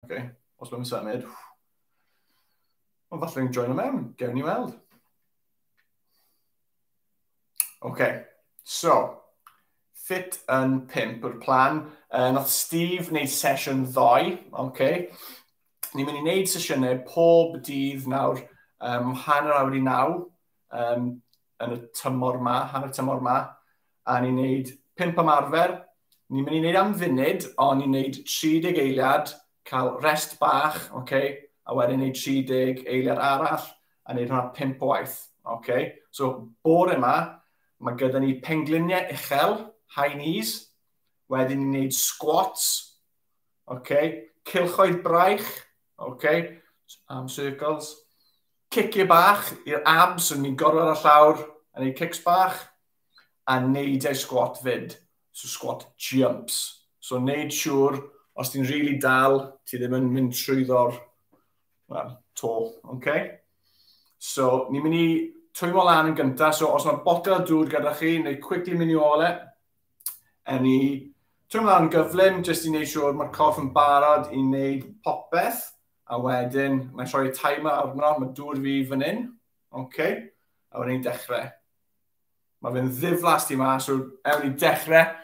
Oce, os mae'n symud, ond falle ni'n join o mewn, gewn ni weld. Oce, so, fit yn pimp yw'r plan. Uh, nath Steve wneud sesiwn ddoe, oce. Ni'n mynd i wneud sesiynau pob dydd nawr, um, hanner awr i naw, um, yn y tymor ma, hanner tymor ma, a ni'n gwneud pimp ymarfer. Ni'n mynd i wneud am funud, ond ni'n gwneud 30 eiliad, cael rest bach, okay? a wedyn wneud 30 eiliad arall, a wneud hwnna pimp waith. Okay? So, bore yma, mae gyda ni pengliniau uchel, high knees, wedyn ni'n gwneud squats, okay? cilchoedd braich, okay? arm circles, Ciciau bach i'r abs, so ni'n gorwedd ar llawr a neud cics bach, a neud ei squat fyd, so squat jumps. So neud siŵr, os ti'n rili really dal, ti ddim yn mynd trwyddo'r well, to, okay? So ni'n mynd i twymo lan yn gyntaf, so os mae botel o dŵr gyda chi, neu quickly mynd i ôl e, yn i twymo lan yn gyflym, jyst i wneud siŵr mae'r corff yn barod i wneud popeth, A wedyn, mae'n troi'r timer arno, mae dŵr fi fan hyn. OK. A wedyn ni'n dechrau. Mae fe'n ddiflas di ma, so ewn ni dechrau.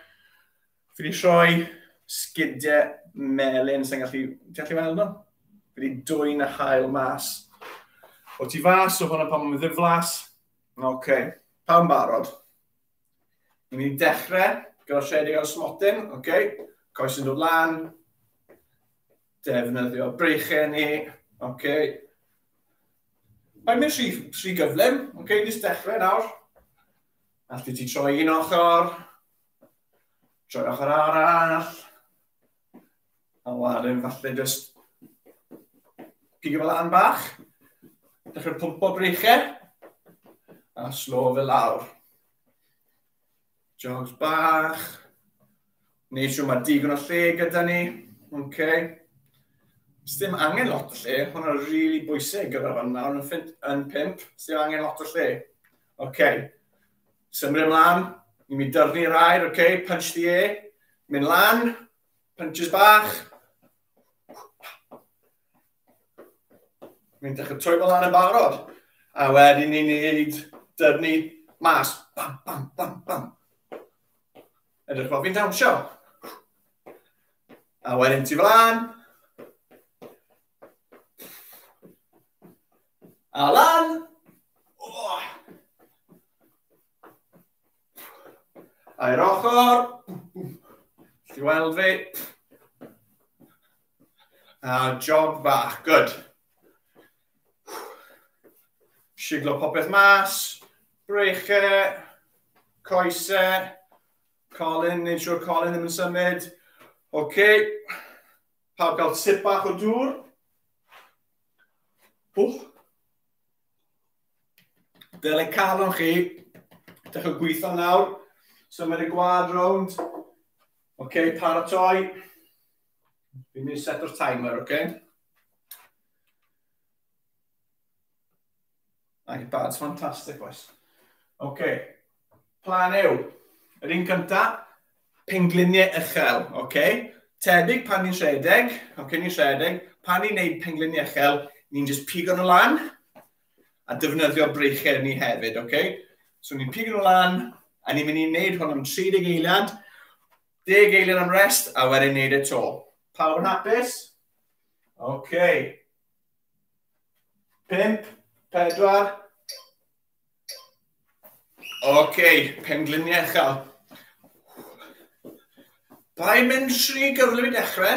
Fi wedi rhoi sgidiau melyn sy'n gallu... Ti'n gallu weld nhw? Fi wedi dwy'n y hael mas. O ti fas, o hwnna pan mae'n ddiflas. Oce, okay. pawb barod. Ni'n mynd i dechrau gyda rhedeg ar y smotyn, oce. Okay. Coes yn dod lan. Defnyddio breichau ni. Ok. Mae'n mynd rhy, rhy gyflym. Ok, nes dechrau nawr. Allu ti troi un ochr. Troi ochr arall. A wedyn falle just pigo fel an bach. Dechrau pwmpo breichau. A slo fe lawr. Jobs bach. Neu siw mae digon o lle gyda ni. OK. Sdim angen lot o lle. Hwna rili really bwysig gyda'r fan nawr yn, ffint, yn pimp. Sdim angen lot o lle. OK. Symri ymlaen. Ni'n mynd dyrnu'r air. OK. Punch the air. Mynd lan. Punches bach. Ni'n dechrau troi fel lan yn barod. A wedyn ni'n neud dyrnu mas. Bam, bam, bam, bam. Edrych fel fi'n dawnsio. A wedyn ti fel lan. A lan. Oh. A'r ochr. Ti weld fi. A jog bach, good. Siglo popeth mas, breche, coese, colin, neud siwr colin ddim yn symud. Oce, okay. pawb gael sip bach o dŵr. Wch. Dyle calon chi, dechrau gweithio nawr. Symud y gwad rownd. Oce, okay, paratoi. Fi'n mynd i set o'r timer, oce? Okay? iPad's fantastic, boys. Oce. Okay. Plan yw, yr un cynta, pengliniau uchel, oce? Okay? Tebyg pan ni'n rhedeg, oce, okay, ni'n rhedeg, pan ni'n neud pengliniau uchel, ni'n just pigo nhw lan a defnyddio breichau ni hefyd, oce? Okay? So ni'n pigo nhw lan a ni'n mynd i wneud hwn am 30 eiliad, Deg eiliad am rest, a wedyn neud e to. Pawb yn hapus? OK. Pimp, pedwar. OK, pengliniau chael. Pa'n mynd rhy gyflym i dechrau?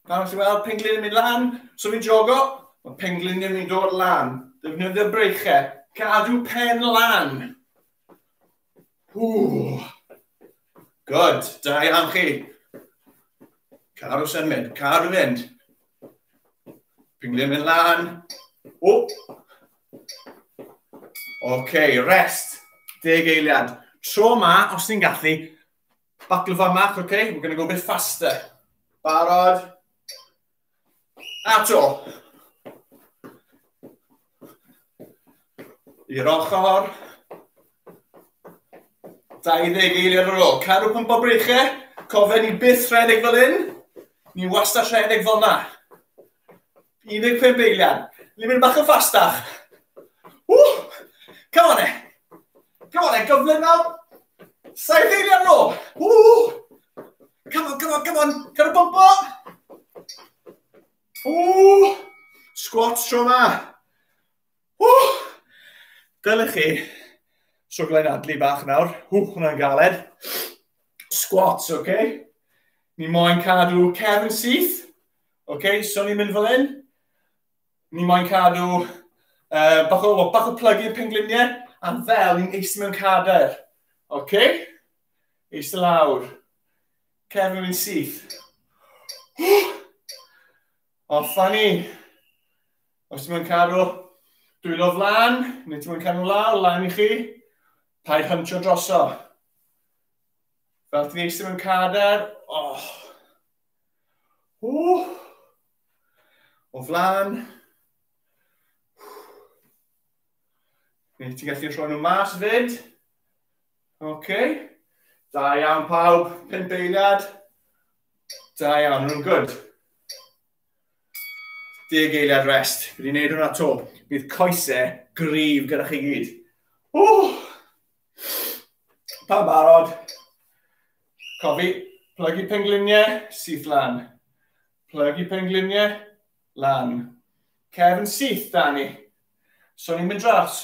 Pan ti'n weld penglin yn mynd lan, so fi'n jogo, mae penglin yn mynd o'r lan. Defnyddio breichau. Cadw pen lan. Ww. Good. Da iawn chi. Car o symud, car o fynd. Pinglin mynd lan. O! OK, rest. Deg eiliad. Tro ma, os ti'n gallu, buckle fan mach, OK? We're going to go a bit faster. Barod. Ato. I'r ochr. 20 eiliad ar ôl. Cadw pump o breichau. Cofio ni byth rhedeg fel hyn. Ni wastad rhedeg fel yma. 15 eiliad. Ni'n mynd bach yn ffastach. Ww! Come on e. Come on e, gyflym nawr. Saith eiliad ar ôl. Ww! Come on, come on, come on. Dyna bumpo! Ww! Squat tro ma. Ww! Dylech chi soglen adlu bach nawr. Ww, hwnna'n galed. Squats, oce? Okay? Ni moyn cadw cefn syth. Oce, okay? so ni'n mynd fel hyn. Ni moyn cadw uh, bach o, bach o plygu y pengliniau. A fel ni'n eistedd mewn cadair. Oce? Okay? Eist lawr. Cefn yn syth. Offa ni. Os ti'n mynd cadw dwylo flan, neu ti'n mynd cadw lawr, lan i chi, paid hyntio droso. Fel ti'n eistedd mewn cadar, oh. Uh. O flan. Neu ti'n gallu rhoi nhw mas fyd. Oce. Da iawn pawb, pum beiliad. Da iawn, nhw'n gwrdd. Deg eiliad rest. Fi wedi gwneud hwnna to. Bydd coesau grif gyda chi gyd. O! Pan barod. Cofi, plygu pengliniau, syth lan. Plygu pengliniau, lan. Cefn syth, Dani. So ni'n mynd dras.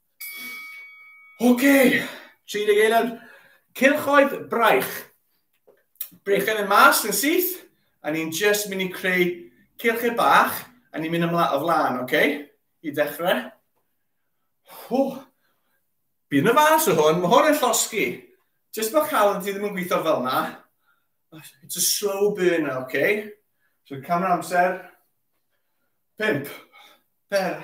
OK, 31. Cylchoedd braich. Brechen yn mas yn syth, a ni'n just mynd i creu cylchau bach, a ni'n mynd ymlaen o flaen, OK? I ddechrau. Hw. Bydd yn y fas o hwn, mae hwn yn llosgi. Just bod cael ti ddim yn gweithio fel yna. It's a slow burner, OK? So camera amser. Pimp. Per.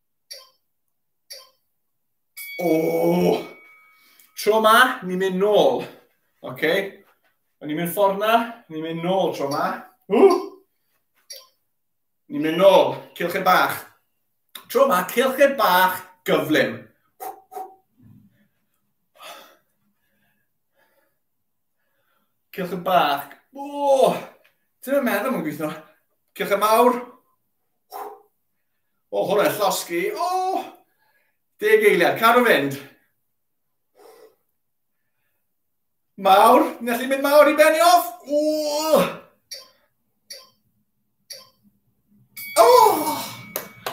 O! Tro ma, ni'n mynd nôl. Oce? Okay. O'n ni'n mynd ffordd na, ni'n mynd nôl tro ma. Ww! Ni'n mynd nôl, cilchau bach. Tro ma, cilchau bach gyflym. Cilchau bach. O! Ti'n meddwl mae'n gweithio? Cilchau mawr. O, hwnna yn llosgi. O! Deg eiliad, cadw fynd. Mawr, ni'n gallu mynd mawr i benni off. O! O!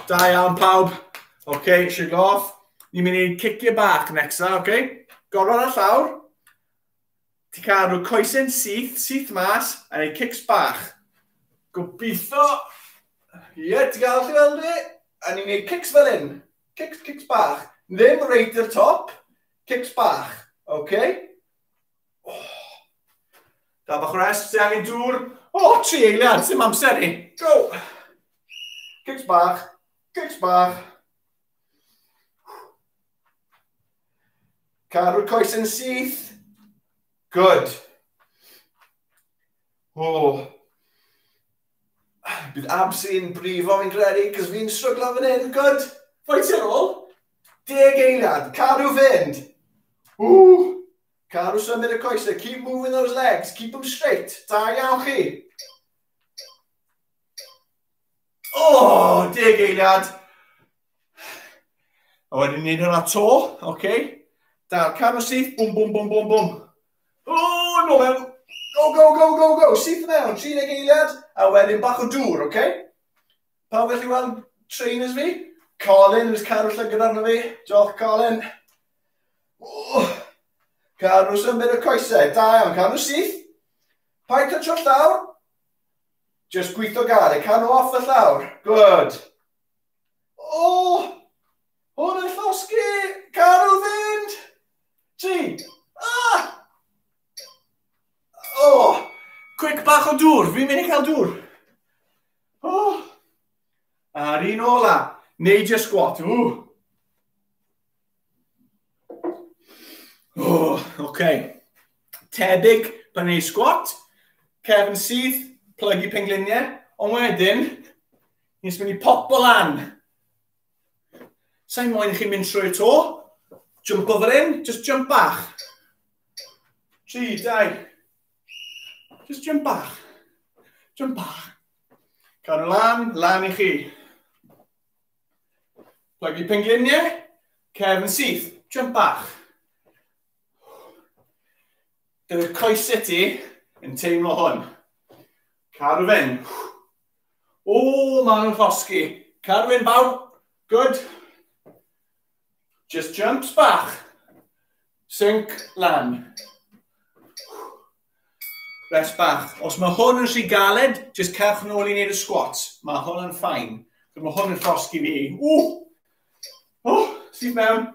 Da iawn pawb. Oce, okay, shake off. Ni'n mynd i cicio bach nexa, oce? Okay? Gorfod ar llawr. Ti'n cael rhyw coesyn syth, syth mas, a rhyw cics bach. Gobeithio. Ie, yeah, ti'n cael chi weld fi? A ni'n gwneud cics fel hyn. Cics, cics bach. Ddim reit i'r top. Cics bach. Oce? Okay? Oh. Da bach rest, ti angen dŵr. O, oh, tri eiliad, sy'n amser ni. Go! Cics bach, cics bach. Cadw'r coes yn syth. Good. O. Bydd abs i'n brifo fi'n credu, cos fi'n stryglo fan hyn. Good. Ffaith i'r ôl. Deg eiliad. Cadw fynd. O. Cadw symud y coesau. Keep moving those legs. Keep them straight. Da iawn chi. O, oh, deg eiliad. A wedyn ni'n hynna to, oce. Okay. Da'r cam o syth, bwm, bwm, bwm, bwm, bwm. O, no mewn. Go, go, go, go, go. Syth mewn, 30 eiliad, a wedyn bach o dŵr, oce. Okay? Pawb gallu weld trainers fi? Colin, yw'r cadw llygad arno fi. Diolch, Colin. O, cadw symud y coesau. Da iawn, cadw syth. Pa'n cytro llawr? Just gweithio gael, e. cadw off y llawr. Good. O! Hwn yn llosgi! Carw fynd! Tri! Ah! O! Oh! Cwic bach o dŵr, fi'n mynd i cael dŵr. O! Oh! A'r un ola, neud y sgwat. O! O, oh, okay. Tebyg pan ei sgwat, cefn syth, plygu pengliniau, ond wedyn, Nes mynd i popo lan. Sa'n moyn i chi mynd trwy'r to. Jump over in, just jump bach. Tri, dau. Just jump bach. Jump bach. Cael nhw lan, lan i chi. Plygu pengliniau, cef yn syth, jump bach. Dyw'r coesau ti yn teimlo hwn. Cael rhyw fynd. Ooh, maen nhw'n llosgi. Carwyn bawb. Good. Just jumps bach. Sink lan. Rest bach. Os mae hwn yn rhy galed, just cerwch nôl i wneud y squat. Mae hwn yn ffain. Mae hwn yn llosgi fi. Ooh! Oh, sydd mewn.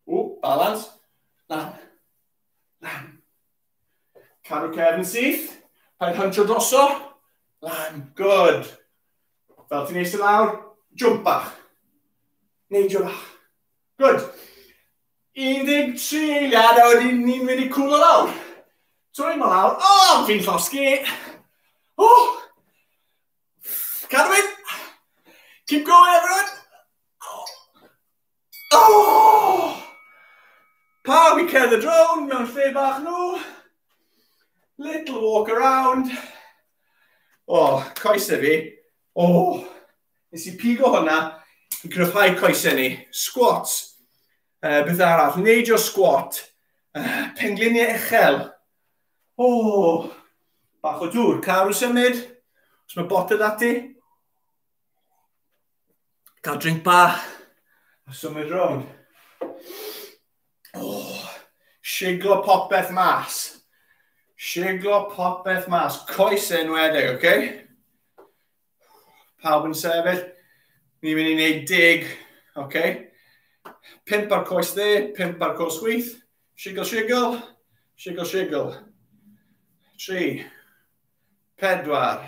Ooh, balance. Lan. Lan. Cadw cefn syth. Pa'n hantio droso. Lan. Good. Fel ti'n eistedd lawr, jump bach. Neidio bach. Good. 13 eiliad a wedyn ni'n mynd i cwlo lawr. Trwy mo lawr. O, oh, fi'n llosgi. O! Oh. Cadw mynd. Keep going, everyone. Oh! Pawb i cerdded rownd mewn lle bach nhw. Little walk around. O, oh, coesau fi. O, oh, nes i pigo hwnna i gryfhau coesau ni. Squat. Uh, beth arall? Neidio squat. Uh, pengliniau uchel. O, oh, bach o dŵr. Cael rhyw symud. Os mae botel ati. Cael drink bach. A symud rown. Oh, siglo popeth mas. Siglo popeth mas. Coes yn wedeg, oce? Okay? Pawb yn sefyll. Ni'n mynd i wneud dig, oce? Okay? Pimp ar coes dde, pimp ar coes chwith. Sigl, sigl, sigl, sigl. Tri, pedwar,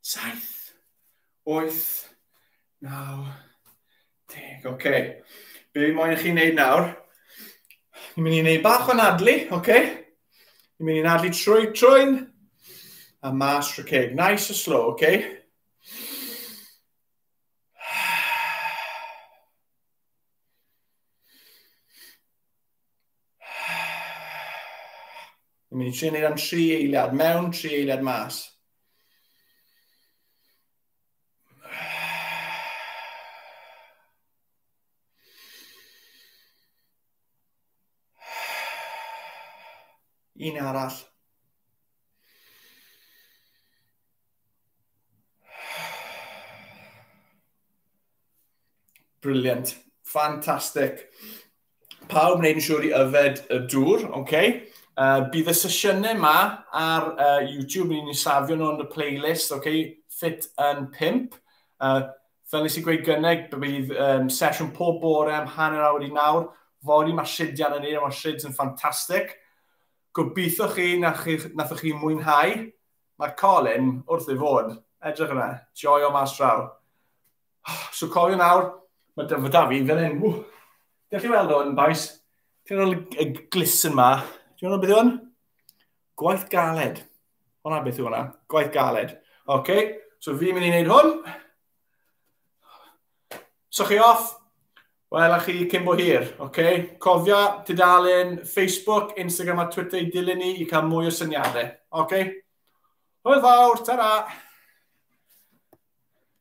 saith, oeth, naw, deg. Oce. Okay. Be fi moyn i chi wneud nawr? Ni'n mynd i wneud bach o'n adlu, oce? Okay? Ni'n mynd i'n adlu trwy trwy'n a mas trwy ceg. Nice a slow, oce? Okay? Ni'n mynd i trio wneud am tri eiliad mewn, tri eiliad mas. Un arall. Brilliant. Fantastic. pawb wneud yn siŵr i yfed y dŵr, oce? Okay? Uh, bydd y sesiynau yma ar uh, YouTube, ni'n safio nhw yn y playlist, oce? Okay? Fit yn 5. Uh, fel nes i gweud gynnau, bydd um, sesiwn pob bore am hanner awr i nawr. Fori mae Shid yn ei, mae Shid yn ffantastig. Gobeithio chi na chi, nath chi mwynhau. Mae Colin wrth ei fod. Edrych yna, joio mas draw. So cofio nawr, mae dyfod da fi'n fel hyn. Ww. Dewch chi weld o'n baes? Ti'n rhoi y glis yn ma. Ti'n rhoi beth yw hwn? Gwaith galed. Hwna beth yw hwnna? Gwaith galed. Oce, okay. so fi'n mynd i wneud hwn. So chi off? Wel, a chi cyn bo hir, oce? Okay? Cofio tudalen Facebook, Instagram a Twitter i dilyn ni i cael mwy o syniadau, oce? Okay? Hwyl fawr, ta-ra!